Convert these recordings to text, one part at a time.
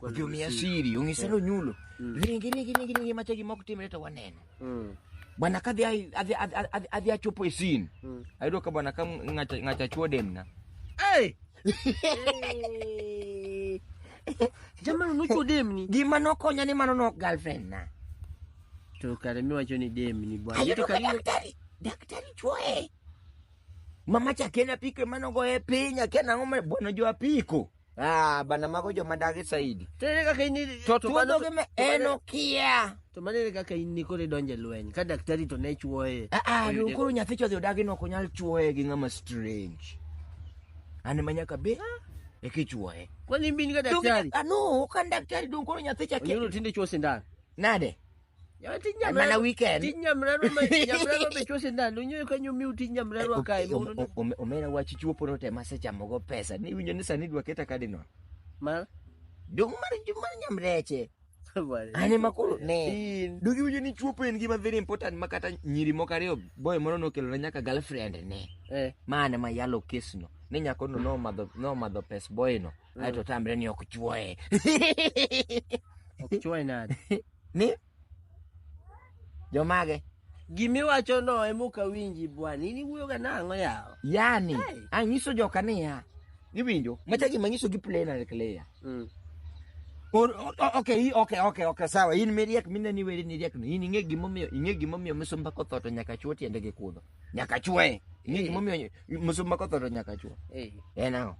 Ojomiya siri, onyisa ni onyulo. Mm. Ringi, ringi, ringi, ringi, macha gima ok timre to waneno. Mm. Bwana kadhi ai- adhi- adhi- adhi- adhi achopo e sin. Mm. Ayudo ka bwana ka ng'acha ng'acha chwo demna. Hey! Jamani unucho demni. Gima nokonya ni mano nok girlfriend na. To kare miwacho ni demni bwana. Ayudo Ito ka kare daktari, daktari chwoe. Mama cha kena pike mano goye piny, akena ng'o ma bwana jo apiko. Ah, bana mago joma dagi saidi. To ere kaka in To tuo mano- dhoge me to en mano- okia. To mano ere kaka in nikoro idonjo e lweny ka daktari to ne chuoye. Ah, ah, Oyude- koro nyathi chodhi odagi no ok onyal chuoye gi ng'ama strange. An ema nyaka be eka ichuoye. Kwani in bin ga Donge- daktari? Ah, no, ok an daktari donge koro nyathi cha Onyulo tinde chuo sindan. Nade? Yawa tij Mana nyamrerwa- weekend. tij nyamrerwa ma- nyamrerwa be chuo sindan unyoyo kanyo miu tij nyamrerwa kae Om- mondo om- om- omera wach chuopo no te masechamogo pesa ni winjo ni sani dwa keta kadino mar dong mar mar nyamreche an ema koro ne in dogi winjo ni chuopo en gima very important ma kata nyiri moko ariyo boy moro nokelona nyaka girlfriend ne eh mane ma yalo kesno ni nyakono nomadho nomadho pes boyno aeto tamre ni ok chuoye ok chuoye nade Ni jomage? Gima iwacho no ema ok awinji bwana. In iwuoyoga nang'o yawa? Yani, hey. anyiso joka niya. Iwinjo? Macha gima nyiso gi plain and clear. Mm. Or, okay, okay, okay, okay, sawa. In miriek mineni weri ni riek no. In ing'e gimomiyo, ing'e gimomiyo misumba kotho to nyaka chuo tiende gi kudho. nyaka chwe ing'e Eh. gimomiyo msumba kothoro nyaka chwe Eh, en ang'o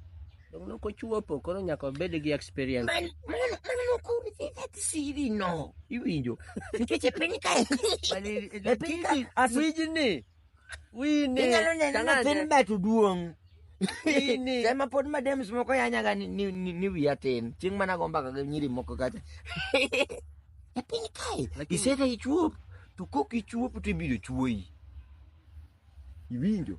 dong nok ochuopo koro nyaka obed gi experience Man- mano mano nokuri that siri no iwinjo nikech e piny kae e piny kae as- wijni wine inyalo neno nyathini bet duong' Nini? Sema pod madems moko yanyaga ni, ni, ni, ni wiya tin. Chieng' mana go mbaka gi nyiri moko kacha. E piny kae. Lakini- Iseta ichuop. To kok ichuop to ibiro chuoyi. Iwinjo?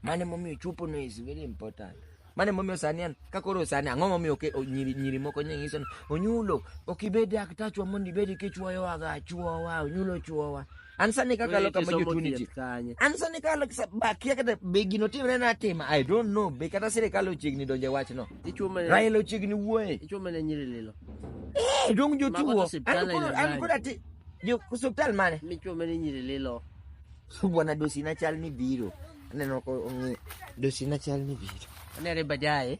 Mane momiyo chuopo no is very important. Mane momiyo sani an ka koro sani ang'o momiyo oke, o, nyiri, nyiri moko nyanyiso ni onyulo ok ibed daktachwa mondo ibed kichuoyowaga chuowa onyulo chuowa An sani kakalo kama jotuoni ji. An sani kalo bakia kata be gino timre na atima. I don't know. Be kata sirikal ochiegni donje wach no. Raila ochiegni wuoye. Ichume ne nyiri lilo. Eh, dong jotuo. An koda ti. Jo hospital mane? Michume ne nyiri lilo. Bwana dosi na chal ni biro. Aneno ko ongi dosi na chal ni biro. Anere bajaye.